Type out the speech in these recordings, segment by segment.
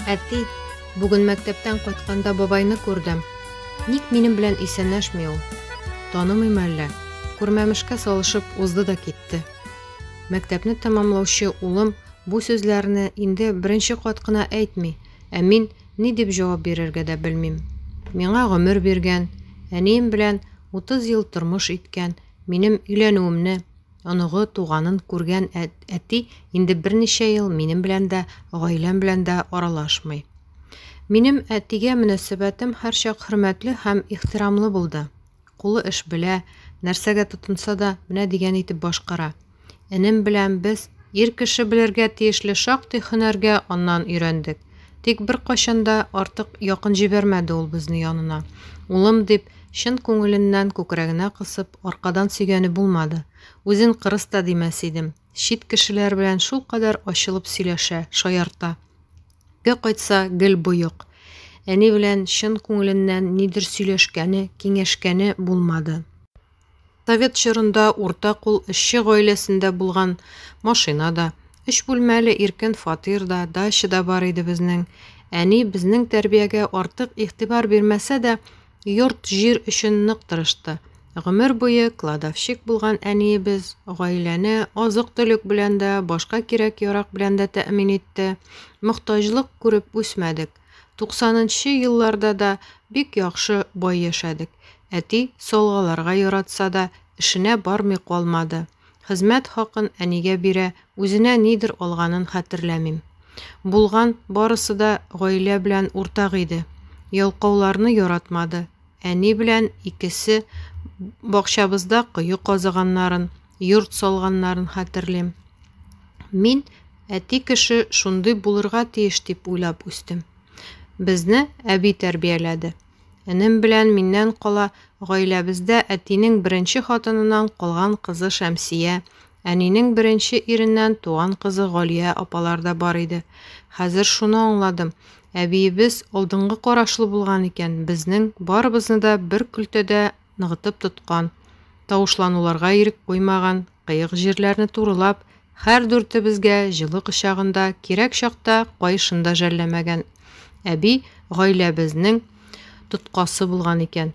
Әти, бүген мәктәптән кайтканда бабайны күрдем. Ник минем белән исәнәшми ул? Танымый мәллә. Күрмәмешкә салышып узды да китте. Мәктәпне тәмамлаучы улым бу сүзләрне инде беренче кат кына әйтми, ә мин Ни дип җавап бирергә дә белмим. Миңа гомер биргән, әнием белән 30 ел тормыш иткән, минем өйләнүемне, оныгы, туганын күргән әти инде берничә ел минем белән дә, гаиләм белән дә аралашмый. Минем әтигә мөнәсәбәтем һәрчак хөрмәтле һәм ихтирамлы булды. Кулы эш белә, нәрсәгә тотынса да, менә дигән итеп башкара. Энем белән без ир кеше белергә тиешле шактый хөнәргә аннан өйрәндек. Тик беркайчан да артык якын җибәрмәде ул безне янына. Улым дип, чын күңеленнән күкрәгенә кысып, аркадан сөйгәне булмады. Үзен кырыс та димәс идем. Чит кешеләр белән шулкадәр ачылып сөйләшә, шаярта. Ге кайтса, гел боек. Әни белән чын күңеленнән нидер сөйләшкәне, киңәшкәне булмады. Совет чорында урта кул эшче гаиләсендә булган машина да, өч бүлмәле иркен фатир да, дача да бар иде безнең. Әни безнең тәрбиягә артык игътибар бирмәсә дә, йорт-җир өчен нык тырышты. Гомер буе кладовщик булган әниебез гаиләне азык-төлек белән дә, башка кирәк-ярак белән дә тәэмин итте. Мохтаҗлык күреп үсмәдек. Туксанынчы елларда да бик яхшы, бай яшәдек. Әти, салгаларга яратса да, эшенә бармый калмады. Хезмәт хакын әнигә бирә, үзенә нидер алганын хәтерләмим. Булган барысы да гаилә белән уртак иде. Ялкауларны яратмады. Әни белән икесе бакчабызда кое казыганнарын, йорт салганнарын хәтерлим. Мин Әти кеше шундый булырга тиеш дип уйлап үстем. Безне әби тәрбияләде. Энем белән миннән кала гаиләбездә әтинең беренче хатыныннан калган кызы Шәмсия, әнинең беренче иреннән туган кызы Галия апалар да бар иде. Хәзер шуны аңладым, әбиебез алдынгы карашлы булган икән, безнең барыбызны да бер көлтәдә ныгытып тоткан, тавышлануларга ирек куймаган, кыек җирләрне турылап, Хәр дүртебезгә җылы кочагында, кирәк чакта каешын да жәлләмәгән әби гаилә безнең тоткасы булган икән.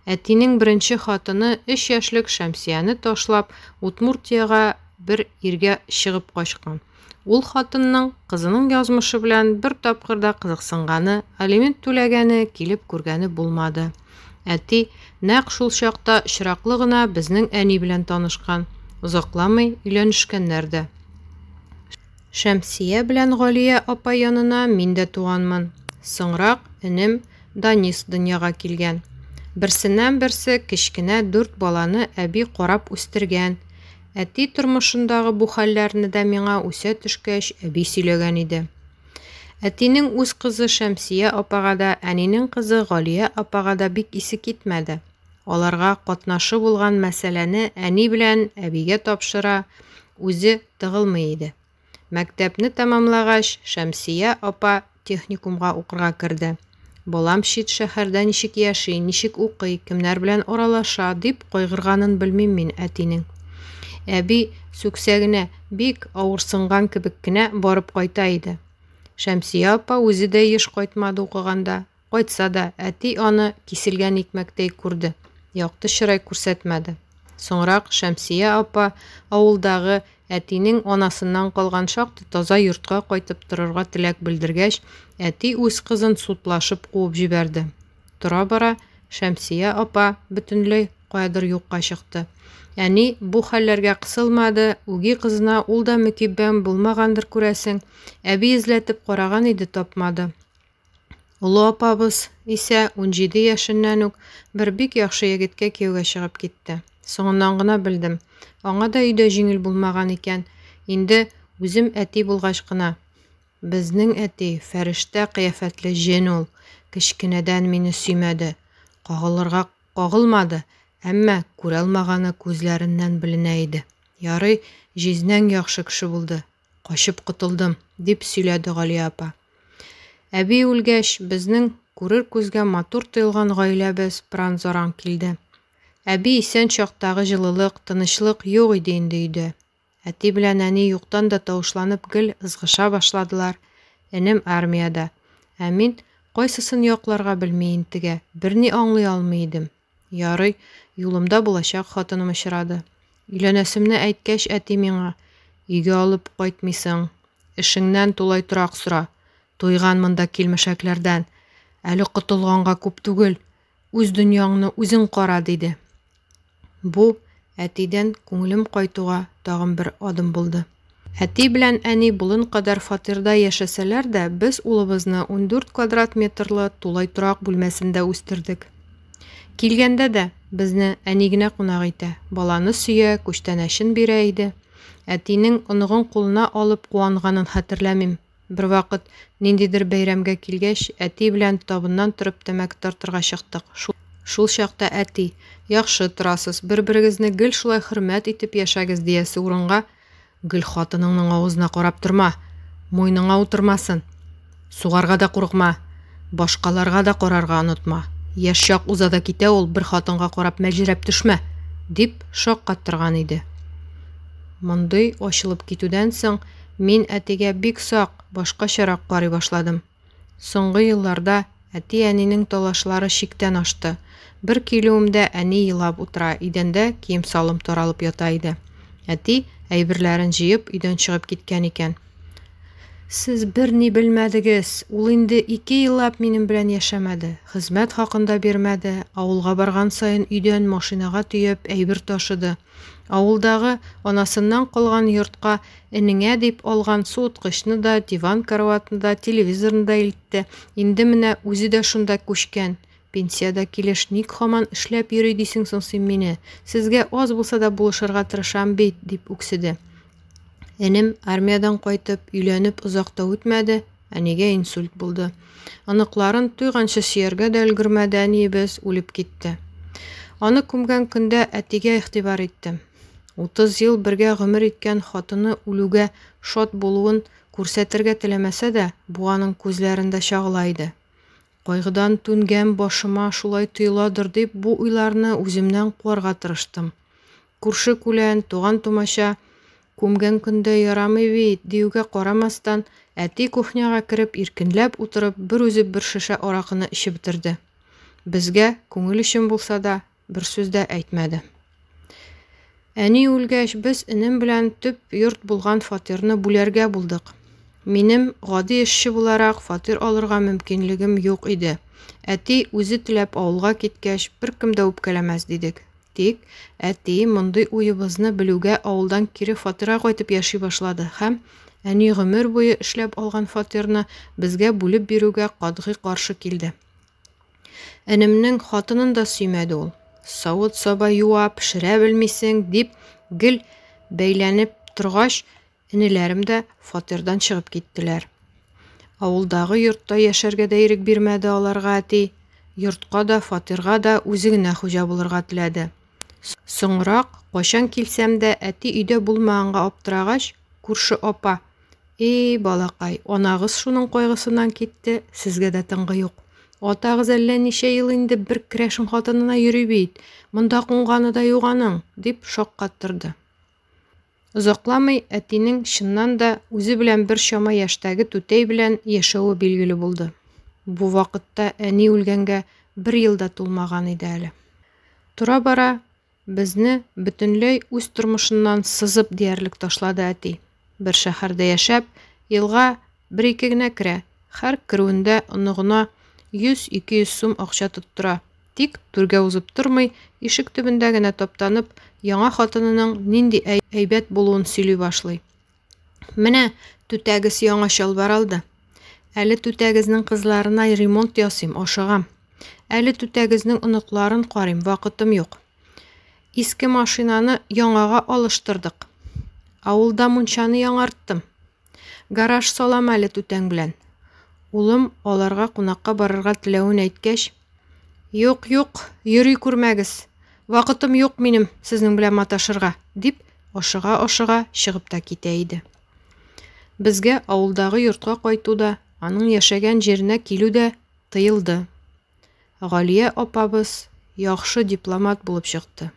Әтинең беренче хатыны өч яшьлек Шәмсияне ташлап, Утмуртиягә бер иргә чыгып качкан. Ул хатынның кызының язмышы белән бер тапкыр да кызыксынганы, алимент түләгәне, килеп күргәне булмады. Әти, нәкъ шул чакта очраклы гына безнең әни белән танышкан, озакламый өйләнешкәннәр дә. Шәмсия белән Галия апа янына мин дә туганмын. Соңрак энем Данис дөньяга килгән. Берсеннән-берсе кечкенә дүрт баланы әби карап үстергән. Әти тормышындагы бу хәлләрне дә миңа үсә төшкәч әби сөйләгән иде. Әтинең үз кызы Шәмсия апага да, әнинең кызы Галия апага да бик исе китмәде. Аларга катнашы булган мәсьәләне әни белән әбигә тапшыра, үзе тыгылмый иде. Мәктәпне тәмамлагач, Шәмсия апа техникумга укырга керде. Балам чит шәһәрдә ничек яши, ничек укый, кемнәр белән аралаша, дип кайгырганын белмим мин әтинең. Әби сүксә генә бик авырсынган кебек кенә барып кайта иде. Шәмсия апа үзе дә еш кайтмады укыганда. Кайтса да, әти аны киселгән икмәктәй күрде, якты чырай күрсәтмәде. Соңрак Шәмсия апа авылдагы Әтинең анасыннан калган шактый таза йортка кайтып торырга теләк белдергәч, әти үз кызын судлашып куып җибәрде. Тора-бара Шәмсия апа бөтенләй каядыр юкка чыкты. Әни бу хәлләргә кысылмады, үги кызына ул да мөкиббән булмагандыр, күрәсең. Әби эзләтеп караган иде, тапмады. Олы апабыз исә унҗиде яшеннән үк бер бик яхшы егеткә кияүгә чыгып китте. Соңыннан гына белдем. Аңа да өйдә җиңел булмаган икән. Инде үзем әти булгач кына, Безнең әти, фәрештә кыяфәтле җен ул, кечкенәдән мине сөймәде, кагылырга кагылмады, әмма күралмаганы күзләреннән беленә иде. Ярый, җизнәң яхшы кеше булды, Качып котылдым, дип сөйләде Галия апа. Әби үлгәч, безнең күрер күзгә матур тоелган гаиләбез пыран-заран килде. Әби исән чактагы җылылык, тынычлык юк иде инде өйдә. Әти белән әни юктан да тавышланып гел ызгыша башладылар. Энем армиядә. Ә мин, кайсысын якларга белми интегә, берни аңлый алмый идем. Ярый, юлымда булачак хатыным очрады. Өйләнәсемне әйткәч, әти миңа, Өйгә алып кайтмыйсың. Эшеңнән тулай торак сора. Туйган монда килмешәкләрдән. Әле котылганга күп түгел. Үз дөньяңны үзең кара, диде. Бу әтидән күңелем кайтуга тагын бер адым булды. Әти белән әни болын кадәр фатирда яшәсәләр дә, без улыбызны ундүрт квадрат метрлы тулай торак бүлмәсендә үстердек. Килгәндә дә, безне әни генә кунак итә, баланы сөя, күчтәнәчен бирә иде. Әтинең оныгын кулына алып куанганын хәтерләмим. Бервакыт, ниндидер бәйрәмгә килгәч, әти белән табыннан торып тәмәке тартырга чыктык. Шул чакта әти, Яхшы торасыз, бер-берегезне гел шулай хөрмәт итеп яшәгез, диясе урынга, Гел хатыныңның авызына карап торма, муйныңа утырмасын, сугарга да курыкма, башкаларга да карарга онытма, яшь чак уза да китә ул, бер хатынга карап мәлҗерәп төшмә, дип шаккаттырган иде. Мондый ачылып китүдән соң, Мин әтигә бик сак, башкачарак карый башладым. Соңгы елларда әти-әнинең талашлары чиктән ашты. Бер килүемдә әни елап утыра, идәндә кием-салым таралып ята иде. Әти, әйберләрен җыеп, өйдән чыгып киткән икән. Сез берни белмәдегез. Ул инде ике еллап минем белән яшәмәде. Хезмәт хакын да бирмәде, авылга барган саен өйдән машинага төяп әйбер ташыды. Авылдагы анасыннан калган йортка энеңә дип алган суыткычны да, диван-караватны да, телевизорны да илтте. Инде менә үзе дә шунда күчкән. Пенсиядә килеш ник хаман эшләп йөри дисең соң син мине? Сезгә аз булса да булышырга тырышам бит, дип үкседе. Энем, армиядән кайтып, өйләнеп озак та үтмәде, Әнигә инсульт булды. Оныкларын туйганчы сөяргә дә өлгермәде әниебез, үлеп китте. Аны күмгән көндә әтигә игътибар иттем. 30 ел бергә гомер иткән хатыны үлүгә шат булуын күрсәтергә теләмәсә дә, бу аның күзләрендә чагыла иде. Кайгыдан түнгән башыма шулай тоеладыр дип, бу уйларны үземнән куарга тырыштым. Күрше-күлән, туган-тумача, Күмгән көндә ярамый бит, диюгә карамастан, әти кухняга кереп, иркенләп утырып, бер үзе бер шешә аракыны эчеп бетерде. Безгә, күңел өчен булса да, бер сүз дә әйтмәде. Әни үлгәч, без энем белән төп йорт булган фатирны бүләргә булдык. Минем, гади эшче буларак, фатир алырга мөмкинлегем юк иде. Әти үзе теләп авылга киткәч, беркем дә үпкәләмәс дидек. Тик әти мондый уебызны белүгә авылдан кире фатирга кайтып яши башлады һәм, әни гомер буе эшләп алган фатирны безгә бүлеп бирүгә катгый каршы килде. Энемнең хатынын да сөймәде ул. Савыт-саба юа, пешерә белмисең, дип гел бәйләнеп торгач, Энеләрем дә фатирдан чыгып киттеләр. Авылдагы йортта яшәргә дә ирек бирмәде аларга әти. Йортка да, фатирга да үзе генә хуҗа булырга теләде. Соңрак, кайчан килсәм дә, әти өйдә булмаганга аптырагач, күрше апа, Эй, балакай, анагыз шуның кайгысыннан китте, сезгә дә тынгы юк. Атагыз әллә ничә ел инде бер керәшен хатынына йөри бит, монда кунганы да юк аның, дип шаккаттырды. Озакламый әтинең, чыннан да, үзе белән бер чама яшьтәге түтәй белән яшәве билгеле булды. Бу вакытта әни үлгәнгә бер ел да тулмаган иде әле. Тора-бара безне бөтенләй үз тормышыннан сызып диярлек ташлады әти. Бер шәһәрдә яшәп, елга бер-ике генә керә, һәр керүендә оныгына 100-200 сум акча тоттыра. Тик, түргә узып тормый, ишек төбендә генә таптанып, яңа хатынының нинди әйбәт булуын сөйли башлый. Менә түтәгез яңа чалбар алды. Әле түтәгезнең кызларына ремонт ясыйм, ашыгам. Әле түтәгезнең оныкларын карыйм, вакытым юк. Иске машинаны яңага алыштырдык. Авылда мунчаны яңарттым. Гараж салам әле түтәң белән. Улым аларга кунакка барырга теләвен әйткәч, Юк, юк, йөри күрмәгез. Вакытым юк минем сезнең белән маташырга, дип, ашыга-ашыга чыгып та китә иде. Безгә авылдагы йортка кайту да, аның яшәгән җиренә килү дә тыелды. Галия апабыз яхшы дипломат булып чыкты.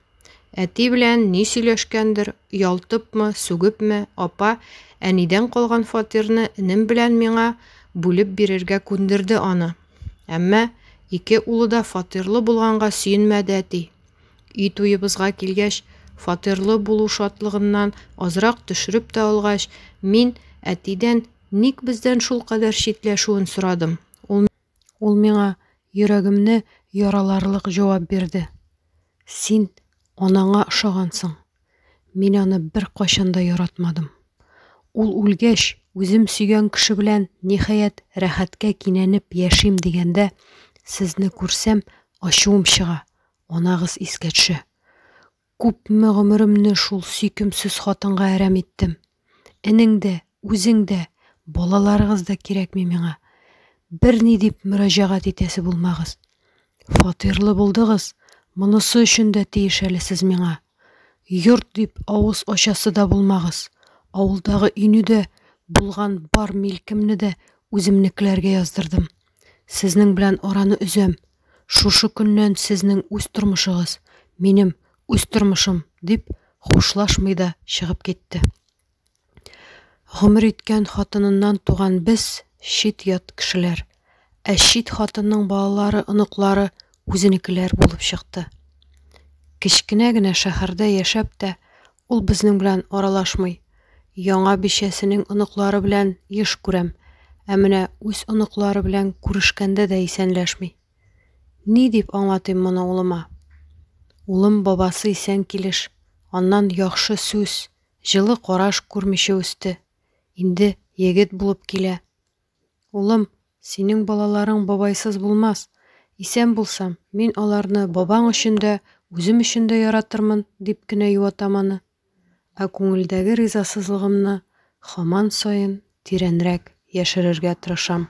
Әти белән ни сөйләшкәндер, ялтыпмы, сүгепме, апа әнидән калган фатирны энем белән миңа бүлеп бирергә күндерде аны. Әмма ике улы да фатирлы булганга сөенмәде әти. Өй туебызга килгәч, фатирлы булу шатлыгыннан азрак төшереп тә алгач, мин әтидән ник бездән шулкадәр читләшүен сорадым. Ул Ул миңа йөрәгемне яраларлык җавап бирде. Син анаңа ошагансың. Мин аны бер кайчан да яратмадым. Ул үлгәч, үзем сөйгән кеше белән ниһаять рәхәткә кинәнеп яшим дигәндә, сезне күрсәм, ачуым чыга, анагыз искә төшә. Күпме гомеремне шул сөйкемсез хатынга әрәм иттем. Энең дә, үзең дә, балаларыгыз да кирәкми миңа. Берни дип мөрәҗәгать итәсе булмагыз. Фатирлы булдыгыз, монысы өчен дә тиеш әле сез миңа. Йорт дип авыз ачасы да булмагыз. Авылдагы өйне дә, булган бар милкемне дә үземнекеләргә яздырдым. Сезнең белән араны өзәм. Шушы көннән сезнең үз тормышыгыз, минем үз тормышым, дип, хушлашмый да чыгып китте. Гомер иткән хатыныннан туган без, чит ят кешеләр. Ә чит хатынның балалары, оныклары үзенекеләр булып чыкты. Кечкенә генә шәһәрдә яшәп тә, Ул безнең белән аралашмый. Яңа бичәсенең оныклары белән еш күрәм, ә менә үз оныклары белән күрешкәндә дә исәнләшми. Ни дип аңлатыйм моны улыма? Улым бабасы исән килеш, аннан яхшы сүз, җылы караш күрмичә үсте. Инде егет булып килә. Улым, синең балаларың бабайсыз булмас. Исән булсам, мин аларны бабаң өчен дә, үзем өчен дә яратырмын, дип кенә юатам аны. Ә күңелдәге ризасызлыгымны хаман саен тирәнрәк яшерергә тырышам.